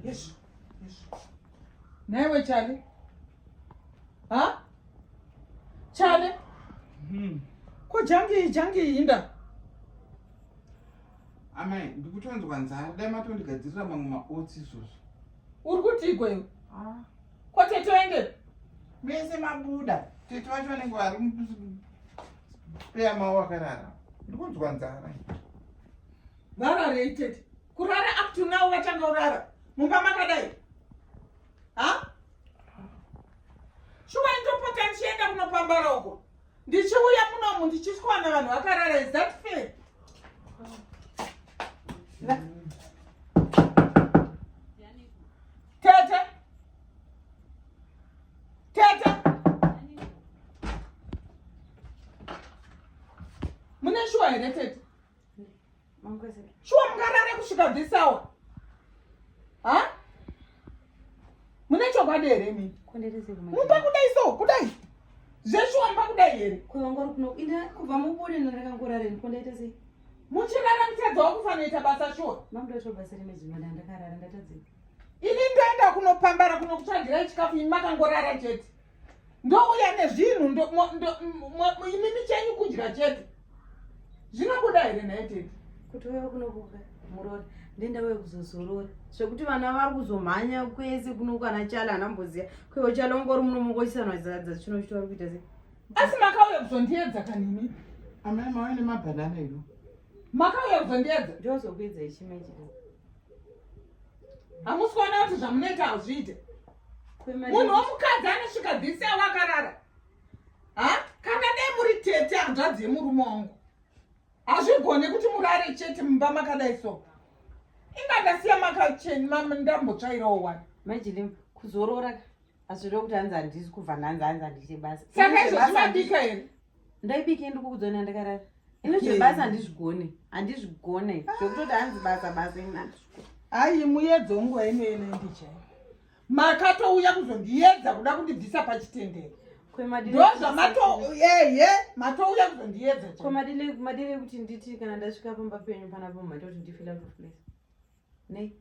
Yes. Yes. Never, Charlie. Huh? Charlie? Hmm. Ko jangi jangi inda. Amai, ndikutonzwa nzara, dai matondigadzirira mamwe maotsi izvozvo. Uri kutiiko iwe? Ah. Ko tete waende? Mese mabuda. Tete vacho vanenge vari Spare mawo akarara. Ndikunzwa nzara. Vara rated. Kurara up to now vachanga urara. Mumba makadai. Ha? Shuwa ndopota ndichienda kunopambara uko. Ndichiuya munomu ndichiskwana vanhu vakarara is that fair? Tete. Tete. Mune shuwa here tete? Shuwa mungarare kusvika this hour. Ha? Mune chokwadi here mimi? Mupa kudai so, kudai. Zveshuwa mupa kudai here? Kwevangori kuno ina kubva mubude ndorakangorare ndikondaita sei? Muchirara mutadza wakufanira ita basa shuwa. Mamdoto basa remedzi mwana ndakarara ndatadzika. ini ndoenda kunopambara kunokutsvagirai chikafu imi makangorara chete ndouya nezvinhu imimi chenyu kudya chete zvinobuda here nhai tete kuti uya kunokuka murori ndenda uya kuzozorora zvekuti vana vari kuzomhanya kwese kunokwana chala anamboziya kwevo chala ungori munomongochisanwa zadza chino chito vari kuita se asi makauya kuzondiedza kanimi amai mauya nemabhanana ino makauya kuzondiedza ndiozokuedza ichimechika hamusi kuona kuti zvamunoita hazviite munhu womukadzi anosvika dhisi avo akarara ha kana dai muri tete hanzvadzi yemurume wangu hazvigone kuti murare chete mumba makadai so ingandasiya makacheni ndambotsvairawo wani majili kuzorora asi zve kuti hanzi handisi kubva nhanzi hanzi handiite basa saka izvo zvinabika here ndaibike ndikukudzona ndakarara ino zvebasa handizvigone handizvigone ah. zvekutoti hanzi basa basa ini handizvigone hayi muyedzo ungu wainoyena ndichai makatouya kuzondiyedza kuda kundibvisa pachitendero ndozvamatoyeye matouya kuzondiyedza komadile kuti nditi kana ndasvika pamba penyu panapa maita kuti ndifila kufulesa nei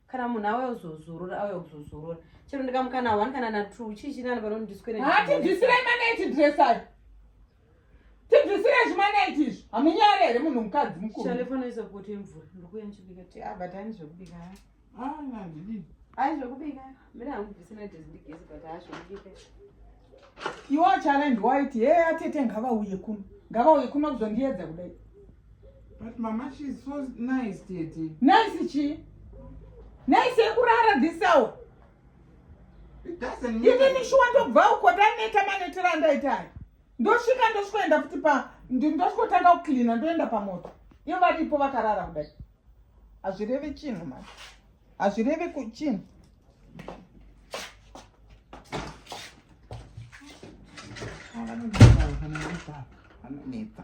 kana munhu auya kuzozorora auya kuzozorora chero ndikamukana one kana na two chii chinani pano ndiswere ha tibvisirei manaiti dresai tibvisirei zvimaneti izvi hamunyare here munhu mukadzi mukurushalefonoisa poto yemvura ndokuya ndichibika ti abatani ah, zvekubika ah, ai zvekubika Mira hangu bvisina jezi ndigezi but hazvindike. Iwo challenge waiti hey atete ngavauye kuno. Ngavauye kuno kuzondiedza kudai. But mama she is so nice tete. Nice chi? Nice yekurara this hour. It doesn't mean. Even if you want to go uko taneta manetera andaitari. Ndosvika ndosvikoenda futi pa ndosvikotanga kucleaner ndoenda pamoto. Ivo varipo vakarara kudai. Hazvirevi chinhu manje. hazvirevi kuchii Anonetsa.